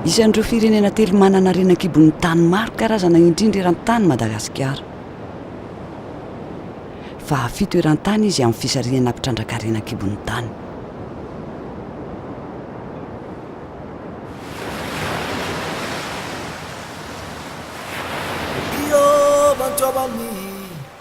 Isan'ireo firenena telo manana harena an-kibon'ny tany maro karazana indrindra eran-tany i Madagasikara. Fahafito eran-tany izy amin'ny fisarihana mpitrandraka harena an-kibon'ny tany.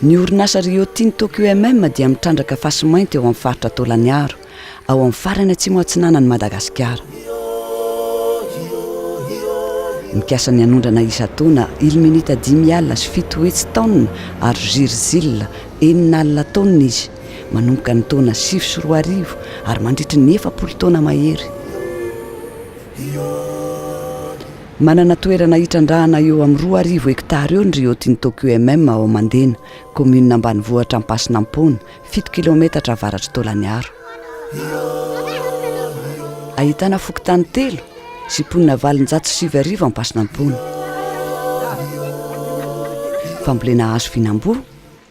Ny orinasa Rio Tinto QMM dia mitrandraka fasy mainty eo amin'ny faritra Tôlaniaro, ao amin'ny farany atsimo atsinanan'i Madagasikara. Mikasa ny hanondrana isan-taona ilmenita dimy alina sy fito hetsy taonina ary zirzila enina alina taonina izy, manomboka ny taona sivy sy roa arivo ary mandritry ny efapolo taona mahery. Manana toerana hitrandrahana eo amin'ny roa arivo hektara eo ny Rio Tinto QMM ao Mandena, kaominina ambanivohitra Ampasinampoana, fito kilaometatra avaratr'i Taolaniaro. Ahitana fokontany telo sy mponina valonjato sy sivy arivo Ampasinampoana. Fambolena hazo vinamboa.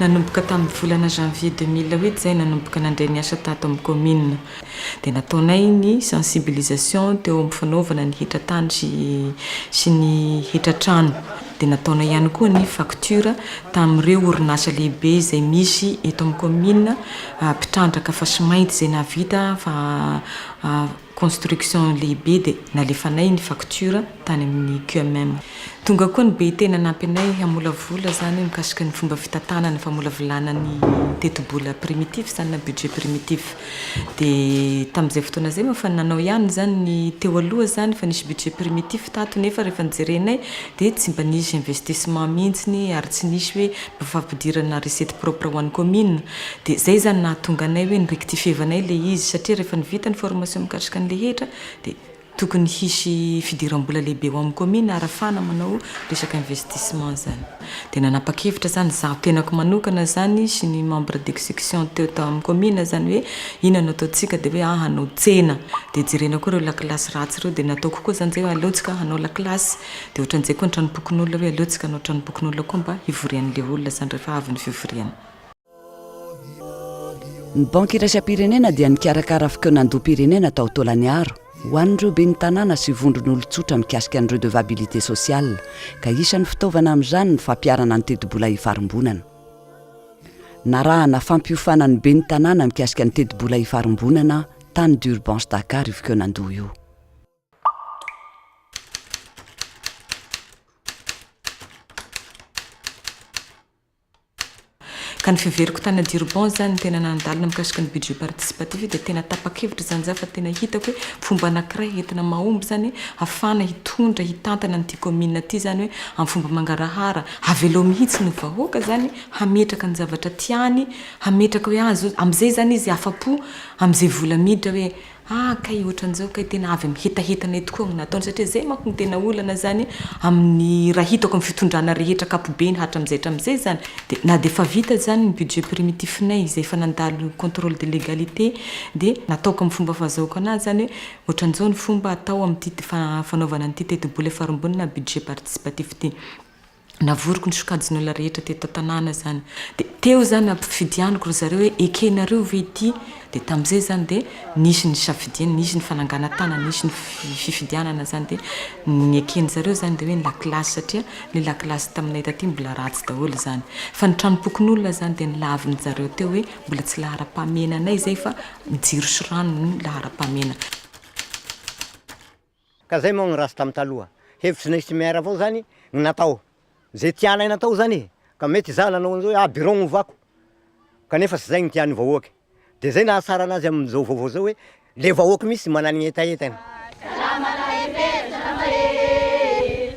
Nanomboka tamin'ny volana janvier deux mille huit izay nanomboka nandray ny asa tato amin'ny kaominina dia nataonay ny sensibilisation teo amin'ny fanaovana ny hetra tany sy sy ny hetra trano dia nataonay ihany koa ny facture tamin'ireo orinasa lehibe izay misy eto amin'ny kaominina mpitrandraka fasimainty izay nahavita fa construction lehibe dia nalefanay ny facture tany amin'ny QMM. Tonga koa ny be tena nampy anay hamolavola izany mikasika ny fomba fitantanana ny famolavolana ny tetibola primitif izany na budget primitif. Dia tamin'izay fotoana izay moa efa nanao ihany izany ny teo aloha izany efa nisy budget primitif tato nefa rehefa nojerenay dia tsy mba nisy investissement mihitsy ary tsy nisy hoe mba fampidirana recette propre ho an'ny commune. Dia izay izany nahatonga anay hoe ni-rectifievanay ilay izy satria rehefa ny vita ny formation mikatrika an'ilay hetra dia tokony hisy fidiram-bola lehibe ho amin'ny kaominina arafahana manao resaka investissement izany. Dia nanapa-kevitra izany izaho tenako manokana izany sy ny membre d'execution teo tamin'ny kaominina izany hoe inona no ataontsika dia hoe aah hanao tsena dia jerena koa ireo lakilasy ratsy ireo dia nataoko koa izany izay hoe aleontsika hanao lakilasy dia ohatran'izay koa ny tranompokonolona hoe aleontsika hanao tranompokonolona koa mba hivorian'ilay olona izany rehefa avy ny fivoriana Ny Banky iraisam-pirenena dia nikarakara fikaonandoham-pirenena tao Tôlaniaro ho an'ireo ben'ny tanàna sy vondron'olon-tsotra mikasika ny redevabilité sociale ka isan'ny fitaovana amin'izany ny fampiharana ny tetibola ifarimbonana. Narahana fampiofana ny ben'ny tanàna mikasika ny tetibola ifarimbonana tany Durbans Dakar io fikaonandoha io. Ka ny fiheveriko tany Durban izany ny tena nandalina mikasika ny budget participatif dia tena tapa-kevitra izany za fa tena hitako hoe fomba anankiray entina mahomby izany hoe hafahana hitondra hitantana an'ity commune ity izany hoe amin'ny fomba mangarahara havelao mihitsy ny vahoaka izany hametraka ny zavatra tiany hametraka hoe azy amin'izay izany izy afa-po amin'izay vola miditra hoe Ah kay ohatran'izao kay tena avy amin'ny hetaheta anay tokoa no nataony satria zay manko no tena olana zany amin'ny raha hitako amin'ny fitondrana rehetra ankapobeny hatram'izay hatram'izay zany de na de efa vita zany ny budget primitif nay izay efa nandalo controle de legalite de nataoko amin'ny fomba fahazahoako anazy zany hoe ohatran'izao ny fomba atao amin'ity fanaovana an'ity tetibola efa rongony na budget participatif ty. Navoriko ny sokajin'olona rehetra teto an-tanàna izany. Dia teo izany nampifidianiko ry zareo hoe ekenareo ve ity? Dia tamin'izay izany dia nisy ny safidiana, nisy ny fananganan-tànana, nisy ny fifidianana izany. Dia ny eken-dry zareo izany dia hoe ny lakilasy satria ilay lakilasy taminay taty mbola ratsy daholo izany. Fa ny tranom-pokonolona izany dia nolavin-dry zareo teo hoe mbola tsy laharam-pahamehana anay izay fa jiro sy rano no laharam-pahamehana. Ka zay moa gny ratsy tam taloha, hevitry ny simiaire avao zany gny natao, ze tianay natao zany e, ka mety izaho nanao an'izao hoe ah bureau gny ovako, kanefa tsy zay gny tian'ny vahoaka, de zay nahatsara anazy am'izao vaovao zao hoe le vahoaka mihitsy managny hetahetany. Salama lahy Pera, salama ee.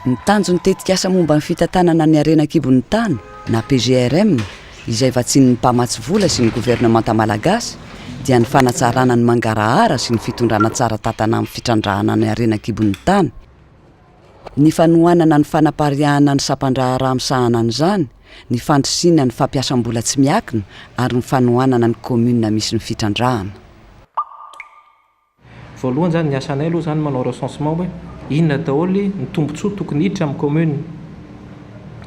Ny tanjon'ny tetikasa momba ny fitantanana ny harena an-kibon'ny tany na PGRM, izay vatsian'ny mpamatsy vola sy ny governemanta malagasy, dia ny fanatsarana ny mangarahara sy ny fitondrana tsara tantana amin'ny fitrandrahana ny harena an-kibon'ny tany, ny fanohanana ny fanapariahana ny sampandraharaha misahana an'izany, ny fandrisihina ny fampiasam-bola tsy miakina ary ny fanohanana ny kaominina misy ny fitrandrahana. Voalohany zany ny asanay aloha zany manao recensement hoe inona daholo ny tombotsoa tokony hiditra amin'ny commune.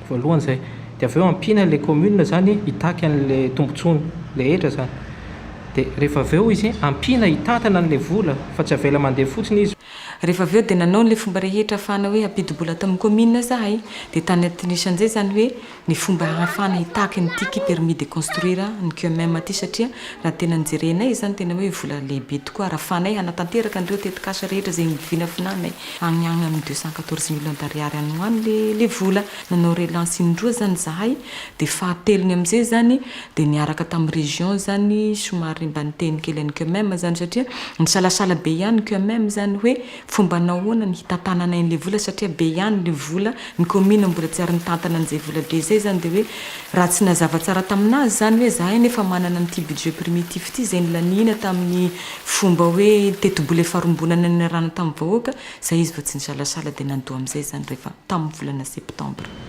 Voalohany izay. Dia avy eo ampiana ilay commune zany hitaky an'ilay tombotsoany rehetra zany. Dia rehefa avy eo izy ampiana hitantana an'ilay vola fa tsy avela mandeha fotsiny izy. Rehefa avy eo dia nanao an'ilay fomba rehetra ahafahana hoe hampidi-bola ato amin'ny commune zahay. Dia tany anatin'io isan'izay zany hoe. ny fomba ahafahana hitaky ny ticket permis de construire ny QMM aty satria raha tena ny jerenay izany tena hoe vola lehibe tokoa arafanay hanatanteraka an'ireo tetikasa rehetra izay vinavinanay agny agny amin'ny deux cent quatorze millions d'ariary any ho any le le vola nanao relance indroa zany zahay dia fahatelony amin'izay zany dia niaraka tamin'ny région zany somary mba niteny kely an'ny QMM zany satria nisalasala be ihany ny QMM zany hoe Fomba nahoana ny hitantananay an'ilay vola satria be ihany ilay vola, ny commune mbola tsy ary nitantana an'izay vola be izay izany dia hoe raha tsy nazava tsara tamin'azy izany hoe izahay anefa manana an'ity budget primitif ity izay nilaniana tamin'ny fomba hoe tetibola efa rombonana niarahana tamin'ny vahoaka, izay izy vao tsy nisalasala dia nandoa amin'izay izany rehefa tamin'ny volana septembre.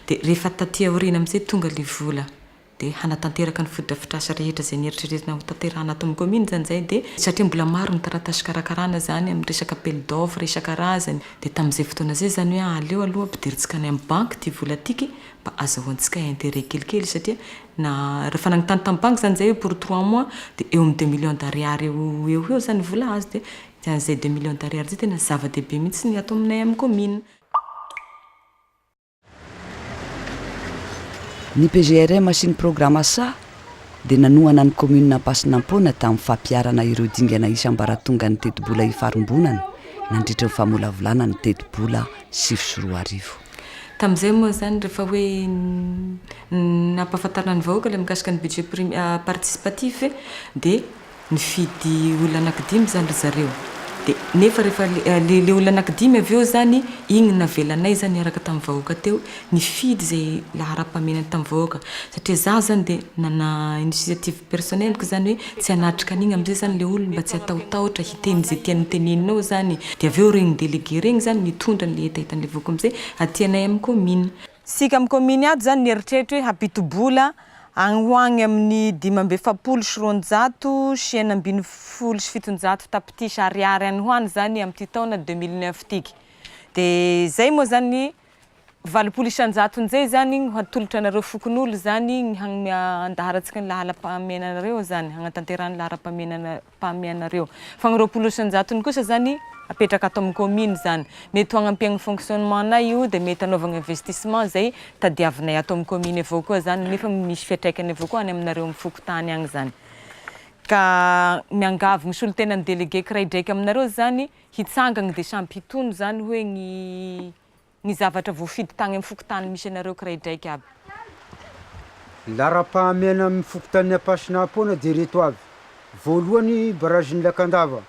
Dia rehefa taty aoriana amin'izay tonga ilay vola dia hanatanteraka ny fotodrafitrasa rehetra izay neritreretina ho tanterahana ato amin'ny kaominina izany izay dia satria mbola maro ny taratasy hikarakarana izany amin'ny resaka appel d'offre isan-karazany dia tamin'izay fotoana izay izany hoe aleo aloha ampidirintsika any amin'ny banky ity vola ity kay mba azahoantsika intérêt kelikely satria na rehefa nanontany tamin'ny banky izany izay hoe pour trois mois dia eo amin'ny deux millions d'ariary eo ho eo izany ny vola azo dia izany izay deux millions d'ariary izay tena zava-dehibe mihitsy ny ato aminay amin'ny kaominina. Ny PGRM sy ny Programa sa dia nanohana ny Kaominina Ampasinampoana tamin'ny fampiharana ireo dingana isam-baratongan'ny tetibola ifarimbonana nandritry ny famolavolana ny tetibola sivy sy roa arivo. Tamin'izay moa izany rehefa hoe nampahafantarina ny vahoaka ilay mikasika ny Budget Participatif dia. Nifidy olona anankidimy izany ry zareo. Dia nefa rehefa ilay ilay olona anankidimy avy eo izany, iny navelanay izany niaraka tamin'ny vahoaka teo, nifidy izay laharam-pahamenany tamin'ny vahoaka. Satria izaho izany dia nana initiative personnelle-ko izany hoe tsy hanatrika an'iny amin'izay izany ilay olona mba tsy hatahotahotra hiteny izay tiany hotenenina ao izany. Dia avy eo ireny délégué ireny izany mitondra an'ilay hetahetan'ilay vahoaka amin'izay aty anay amin'ny kaominina. Isika amin'ny kaominy ato izany nieritreritra hoe hampito-bola agny ho agny amin'ny dimy amby efapolo sy roanjato sy enina ambin'ny folo sy fitonjato tapitrisa ariary any ho any izany amin'ity taona deux mille neuf itika. Dia izay moa izany valopolo isan-jatony izay izany no hatolotra anareo fokonolona izany ny hagnome andaharantsika ny laharam-pahamehana anareo izany, hagnatanterahana ny laharam-pahamehana anareo. Pam ianareo. Fa ny roapolo isan-jatony kosa izany apetraka ato amin'ny kaomina izany. Mety ho hagnampe amin'ny fonctionnement-nay io dia mety hanaovana investissement izay tadiavinay ato amin'ny kaomina avao koa izany nefa misy fiatraikany avao koa any aminareo amin'ny fokontany any izany. Ka miangavy ny solontenan'ny délégué kiraidraika aminareo izany hitsangana dia sampy hitono izany hoe ny ny zavatra voafidy tagny amin'ny fokontany misy anareo kiraidraiky aby. Laharam-pahamehana amin'ny fokontanin'i Ampasina Apôna dia ireto avy, voalohany barazin'i Lakandava,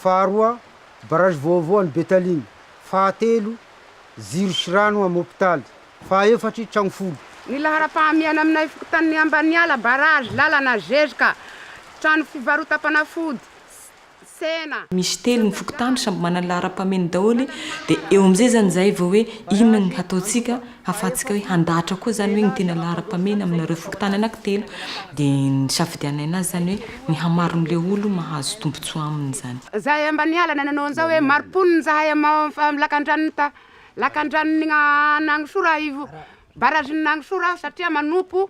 faharoa barazy vaovao any Betalina, fahatelo jiro sy rano amin'ny hopitaly, fahaefatra tragno folo. Ny laharam-pahamehana aminay fokontanin'i Ambaniala, barazy, lalana, zezika, trano fivarotam-panafody, tsena. Misy telo ny fokontany samby manana ny laharam-pahameny daholo dia eo amin'izay izany izahay vao hoe inona ny hataontsika hahafahantsika hoe handahatra koa izany hoe ny tena laharam-pahamena aminareo fokontany anankitelo dia nisafidianana azy izany hoe ny hamaron'ilay olo mahazo tombotsoa aminy izany. Izahay Ambaniala nanao an'izao hoe mari-ponina izahay amin'ny lakandranon'i ta lakandranon'i Anagnisora ivo barragen'Anagnisora satria manompo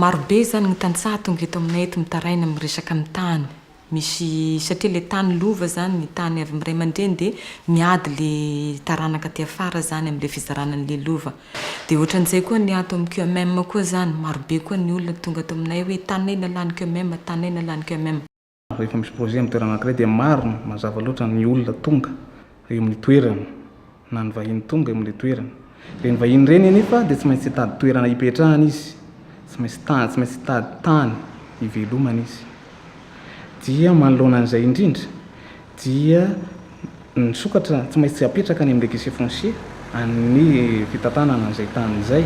Maro be izany ny tantsaha tonga eto aminay eto mitaraina amin'ny resaka amin'ny tany. Misy satria ilay tany lova izany, ny tany avy amin'ny ray aman-dreny dia miady ilay taranaka aty afara izany amin'ilay fizarana an'ilay lova. Dia ohatran'izay koa ny ato amin'ny QMM koa izany, maro be koa ny olona tonga ato aminay hoe taninay nalahin'ny QMM, taninay nalahin'ny QMM. Rehefa misy projet amin'ny toerana anankiray dia maro mazava loatra ny olona tonga eo amin'ny toerana na ny vahiny tonga eo amin'ilay toerana. Ireny vahiny ireny anefa dia tsy maintsy hitady toerana hipetrahana izy, tsy maintsy tany, tsy maintsy hitady tany hivelomana izy. Dia manoloana an'izay indrindra dia Ny sokatra tsy maintsy apetraka any amin'ny registre foncier an'ny fitantanana an'izay tany izay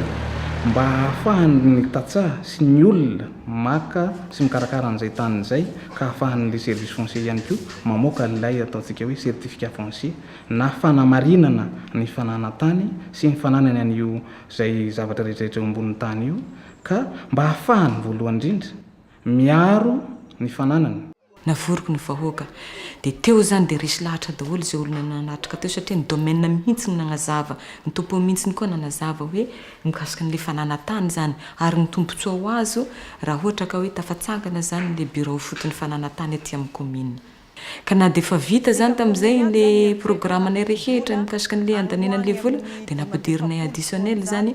mba hahafahan'ny tantsaha sy ny olona maka sy mikarakara an'izay tany izay ka hahafahan'ilay service foncier ihany koa mamoaka an'ilay ataontsika hoe certificat foncier na fanamarinana ny fananan-tany sy ny fananany an'io izay zavatra rehetrarehetra eo ambonin'ny tany io ka mba hahafahany voalohany indrindra miaro ny fananany. Navoriko ny vahoaka. Dia teo izany dia resy lahatra daholo izay olona nanatrika teo satria ny domaine mihitsy no nagnazava, ny topo mihitsy koa nanazava hoe mikasika an'ilay fananantany izany ary ny tombotsoa ho azo raha ohatra ka hoe tafatsangana izany ilay birao foton'ny fananantany aty amin'ny kaominina. Ka na dia efa vita izany tamin'izay ilay programanay rehetra mikasika an'ilay handaniana an'ilay vola dia nampiderinay additionnel izany,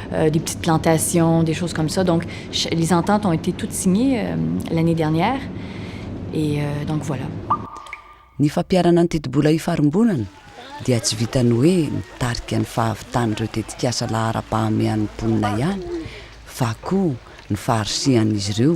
des petites plantations, des choses comme ça, donc les ententes ont été toutes signées l'année dernière et donc voilà. Ny fampiharana ny tetibola ifarimbonana dia tsy vitan'ny hoe mitarika ny fahavitan'ireo tetikasa laharam-pahamehan'ny mponina ihany fa koa ny faharisihan'izy ireo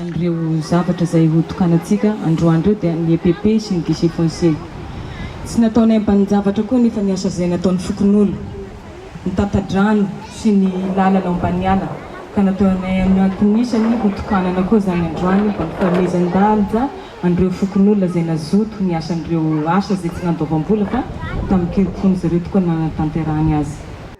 an'ireo zavatra izay ho tokanantsika androany ireo dia ny EPP sy ny Guichet Foncier. Tsy nataonay ambanin-javatra koa anefa ny asa izay nataon'ny fokonolona, ny tata-drano sy ny lalana ao Ambaniala ka nataonay amin'ny anton'isany ho tokanana koa izany androany mba hampifanomezan-danja an'ireo fokonolona izay nazoto niasa an'ireo asa izay tsy nandoavam-bola fa tamin-kirim-pon'izy ireo tokoa no nanatanterahany azy.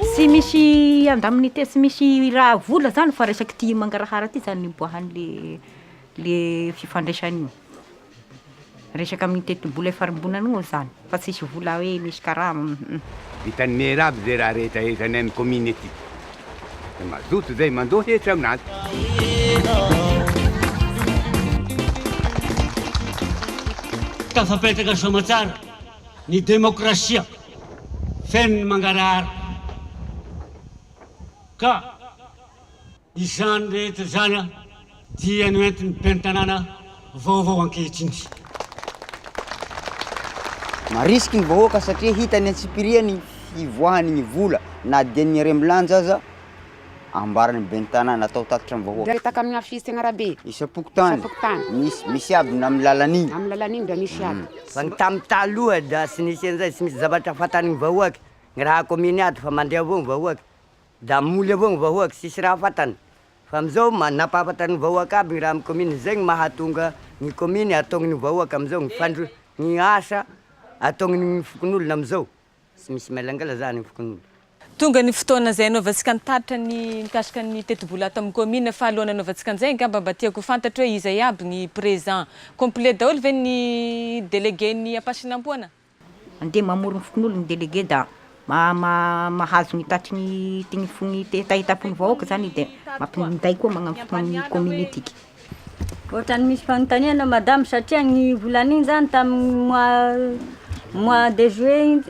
Tsy misy indemnité tsy misy raha vola zany fa resaky ty mangarahara ty zany niboahan'le le fifandraisana io, resaka amin'ny tetibola ifarimbonana io zany fa tsisy vola hoe misy karama um. Vitan'ny Maire aby zay raha rehetra rehetra any amin'ny commune aty. Dia mazoto zay mandoa hetra amin'azy. Tafapetraka soamatsara ny demokrasia. feno ny mangarahara ka izany rehetra izany dia noentin'ny ben'ny tanàna vaovao ankehitriny. Marisiky ny vahoaka satria hita eny antsipiriany ny hivoahany ny vola na dia ny harem-bilanja aza. Ambaran'ny ben'ny tanàna atao tatitra amin'ny vahoaka. Mipetaka amin'ny afisy teny arabe. Isam-pokontany. Isam-pokontany. Misy, misy aby na amin'ny lalan'iny. Amin'ny lalan'iny dia misy aby. Fa ny tamin'ny taloha dia tsy nisy an'izay, tsy misy zavatra fantan'ny vahoaka. Ny raha kaominy ato fa mandeha avao ny vahoaka. Dia moly avao ny vahoaka, tsisy raha fantany. Fa amin'izao ma- nampahafantany ny vahoaka aby ny raha amin'ny kaominy, izay no mahatonga ny kaominy ataon'ny vahoaka amin'izao, ny fandro- ny asa ataon'ny fokonolona amin'izao. Tsy misy mailangala zany ny fokonolona. Tonga ny fotoana izay hanaovantsika ny taratra ny mikasika ny tetibola ato amin'ny commune fa alohan'ny hanaovantsika an'izay angamba mba tiako ho fantatro hoe iza iaby ny présent? Complet daholo ve ny délégué ny Ampasinampoana? Andeha mamory ny fokonolona ny délégué da mahazo ny tatry ny fitaitampony vahoaka zany dia minday koa magnano fotoana ny commune antsika. Ohatrany misy fanontaniana madame satria ny volana iny zany tamin'ny mois mois de juillet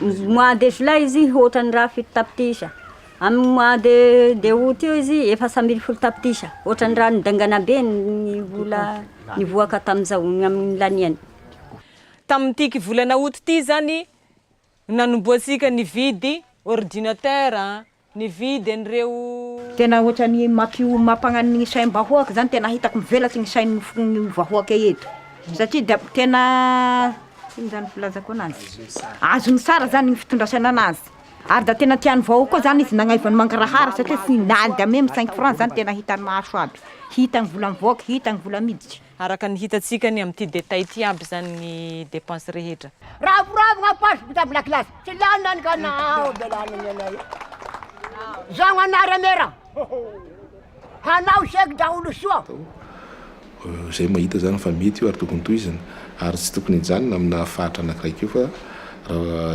iny mois de juillet izy ohatrany raha fito tapitrisa amin'ny mois de de aout io izy efatra ambin'ny folo tapitrisa ohatrany raha nidaingana be ny vola nivoaka tamin'izao ny amin'ny laniany. Tamin'ity volana aout ity zany nanombohantsika nividy ordinateur a. Nividy an'ireo. Tena ohatrany mampiomapagna ny saim bahoaka zany tena hitako mivelatry ny sain ny vahoaka eto satria dia tena ino zany filazako anazy azony tsara zany ny fitondrasana anazy ary da tena tiany vahoaka koa zany izy nagnaivany mangarahara satria foinany da meme cinq franc zany tena hitany maso aby hitany vola mivoaka hitany vola miditry Araka ny hitantsika ny amin'ity détail ity aby izany ny dépenses rehetra. Ravoravo ampaso mpitabla kilasy tsy lany any ka naho belany ny anay zagno anara mera hanao chèque daholo soa. Izay mahita izany fa mety io ary tokony tohizina ary tsy tokony hijanona amina fahatra anakiray keo fa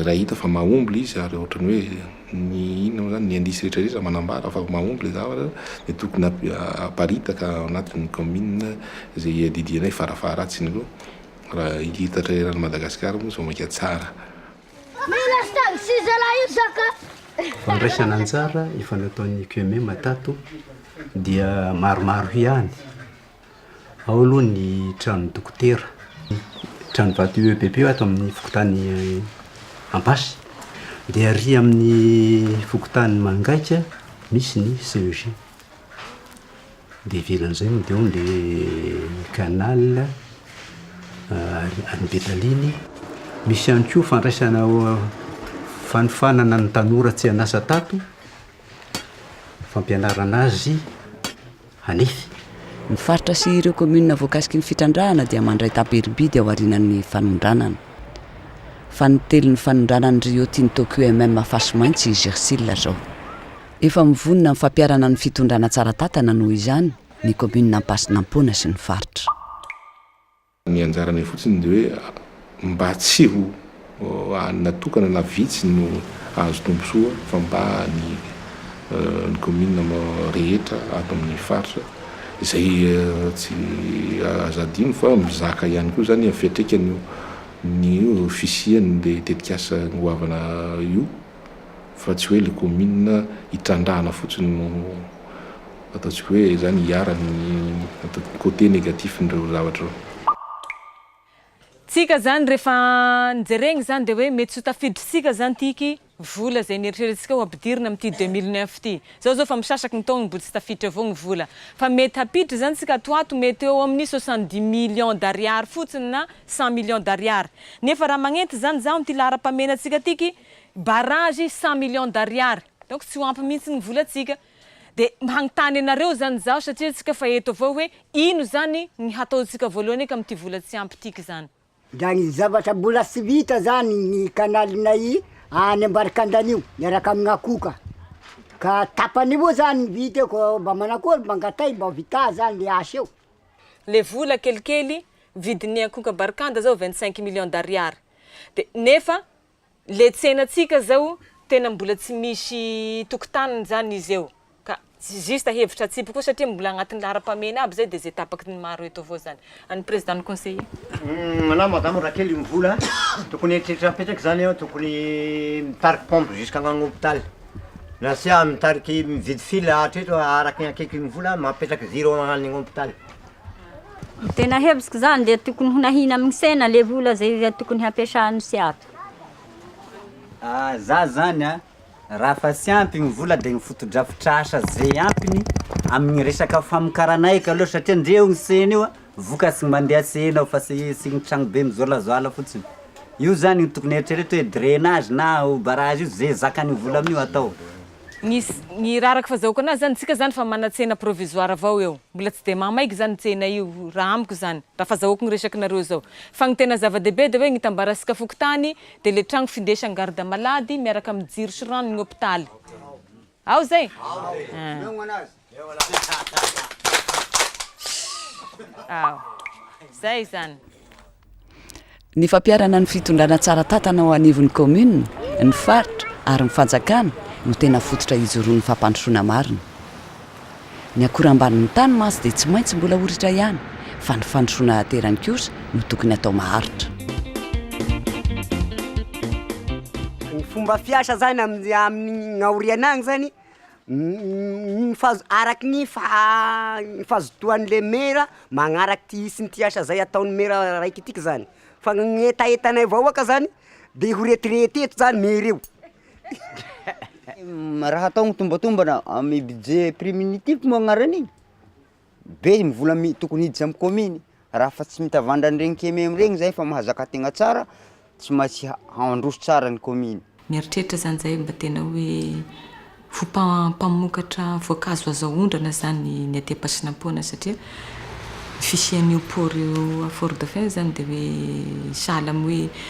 raha hita fa mahomble izy ary ohatrany hoe. Ny inona moa izany? Ny indice rehetra rehetra manambara fa mahomby ilay zavatra dia tokony haparitaka ao anatin'ny kaominina izay iadidiana eo fara faharatsiny aloha raha hitatra eran'i Madagasikara moa izao maika tsara. Fandraisana anjara efa nataon'ny QMM tato dia maromaro ihany. Ao aloha ny tranon'ny dokotera. Tranovato UEBP ato amin'ny fokontany Ampasy. Dia arỳ amin'ny fokontany Mangaika misy ny CEG. Dia ivelan'izay moa dia ao ilay Canal, any Betaliny. Misy ihany koa fandraisana fanofanana ny tanora tsy an'asa tato, fampianarana azy. Hanefy, ny faritra sy ireo kaominina voakasiky ny fitrandrahana dia mandray taberim-bidy ao aorianan'ny fanondranana. Fanintelon' ny fanondranan'ny Rio Tinto QMM Afasomainty sy Gersil izao. Efa mivonona amin'ny fampiharana ny fitondrana tsara tantana noho izany ny kaominina Ampasinampoana sy ny faritra. Ny anjaranay fotsiny dia hoe mba tsy ho hanina tokana na vitsy no hahazo tombontsoa fa mba ny ny kaominina rehetra ato amin'ny faritra izay tsy azo adino fa mizaka ihany koa izany ny fiantraikany eo ny fisian'ilay tetikasa goavana io. fa tsy hoe ilay kaominina itrandrahana fotsiny no ataontsika hoe izany iharan'ny atao côté négatif-n'ireo zavatra ireo. Tsika izany rehefa jerena izany dia hoe mety tsy ho tafidintsika izany tiky vola izay nieritreretintsika ho ampidirina amin'ity deux mille neuf ity. Izao izao efa misasaky ny taona mbola tsy tafiditra avao ny vola. Fa mety hampiditra izany tsika ato ho ato mety eo amin'ny soixante dix millions d'ariary fotsiny na cent millions d'ariary. Nefa raha magnenty izany izaho amin'ity laharam-pahamena antsika tiky Barrage cent millions d'ariary donc tsy ho ampy mihitsy ny volantsika de hagnontany anareo zany zaho satria antsika fa eto avao hoe ino zany ny hataontsika voalohany eky amin'ity vola tsy ampy ity ky zany. Ndra ny zavatra mbola tsy vita zany ny kanalinay any Ambarikandana io miaraka amign akoho ka ka tapany avao zany ny vita eo ka mba manakory mba angatay mba vità zany le asa eo. Le vola kelikely vidin'ny akoho Ambarikanda zao vingt cinq millions d'ariary de nefa Le tsenatsika zao tena mbola tsy misy tokotaniny zany izy eo ka juste hevitra atsipy koa satria mbola agnatin'ny laharam-pahamehana aby zay de zay tapaky ny maro eto avao zany. An'ny président ny conseiller. Anao madame raha kely mvola tokony eritreritra apetraky zany an, tokony mitariky pompe jusk'agnagny hôpital na sia mitariky mividy fil hatreto araky ny hakeky ny vola mapetraky zero agnagny hôpital. Tena hevitsiko zany dia tokony ho nahina amin'ny sena le vola zay tokony hampiasany sy ato. Ah, za zany an, raha fa tsy ampy ny vola dia ny fotodrafitrasa zay ampiny amin'ny resaka famokarana aika aloha satria ndre io ny sena io an, vokatry ny mandeha sena ao fa tsy tsy ny tranobe mijoalajoala fotsiny, io zany no tokony eritrereto hoe drainage na barrage io ze zakan'ny vola amin'io atao. Nisy ny raraka fa zahoka anazy zany tsika zany fa manatsena provisoire avao eo mbola tsy de maha maiky zany ny tsena io raha amiko zany raha fa zahoako ny resakinareo zao fa ny tena zava dehibe de hoe ny hitambarasika fokontany de le tragno findesany garde malady miaraka aminy jiro sy rano ny hopitaly ao zay? Ny fampiharana ny fitondrana tsara tantana ao anivon'ny kaominina, ny faritra ary ny fanjakana no tena fototra hijoroan'ny fampandrosoana marina. Ny akora ambanin'ny tany mantsy dia tsy maintsy mbola ho ritra ihany fa ny fandrosoana aterany kosa no tokony atao maharitra. Ny fomba fiasa izany amin'ny aoriana any izany Ny fahazo- araky ny faha- ny fahazotoan'le maire magnaraky ty hisy ity asa zay ataon'ny maire araiky ity zany, fa ny hetahetanay vahoaka zany de ho retirete eto zany maire io. Raha atao mitombantombana amin'ny budget primitif moa agnaran'iny. Be ny vola mi- tokony hiditra amin'ny kaominy, raha fa tsy mitavandra an'ireny KMM reny zay fa mahazaka tegna tsara, tsy maintsy ha- handroso tsara ny kaominy. Mieritreritra zany zay mba tena hoe ho mpa- mpamokatra voankazo azo aondrana zany ny aty Ampasinampoana satria ny fisian'io port io à Fort Dauphin io zany de hoe sahala amin'ny hoe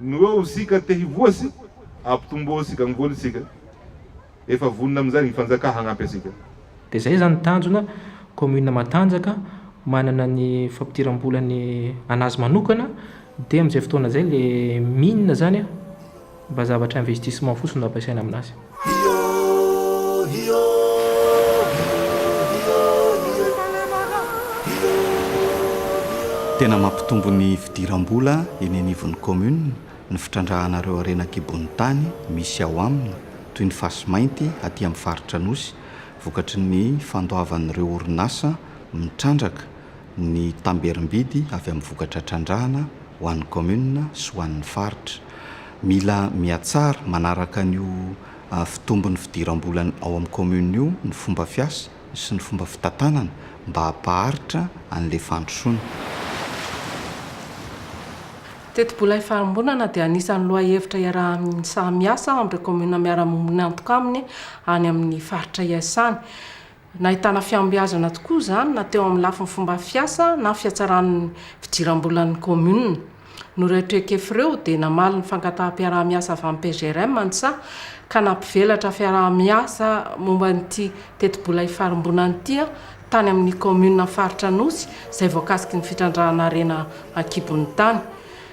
no eo isika te hivoha sy hampitomboa isika ny voly isika efa vonona amin'izay ny fanjaka hagnampy asika. Dia izay izany ny tanjona, commune Matanjaka manana ny fampidiram-bolany anazy manokana dia amin'izay fotoana izay ilay mine izany a, Mba zavatra investissement fotsiny no ampiasaina aminazy. Tena mampitombo ny fidiram-bola eny anivon'ny commune ny fitrandrahana ireo harena an-kibon'ny tany misy ao aminy toy ny fasy mainty aty amin'ny faritra Anosy vokatry ny fandoavan'ireo orinasa mitrandraka ny tamberim-bidy avy amin'ny vokatra trandrahana ho an'ny kaominina sy ho an'ny faritra. Mila mihatsara manaraka an'io fitombon'ny fidiram-bola ao amin'ny kaominina io ny fomba fiasa sy ny fomba fitantanana mba hampaharitra an'ilay fandrosoana. Tetibola ifarimbonana dia anisan'ny lohahevitra iarahan'ny saha miasa amin'ireo kaominina miara-miombon'antoka aminy any amin'ny faritra iasany. Nahitana fihombiazana tokoa izany na teo amin'ny lafiny fomba fiasa na fihatsaran'ny fidiram-bolan'ny kaominina. Noho ireo traikefa ireo dia namaly ny fangataham-piaraha-miasa avy amin'ny PGRM ny Csa ka nampivelatra fiaraha-miasa momba an'ity tetibola ifarimbonana ity tany amin'ny kaominina faritra Anosy izay voakasiky ny fitrandrahana harena an-kibon'ny tany.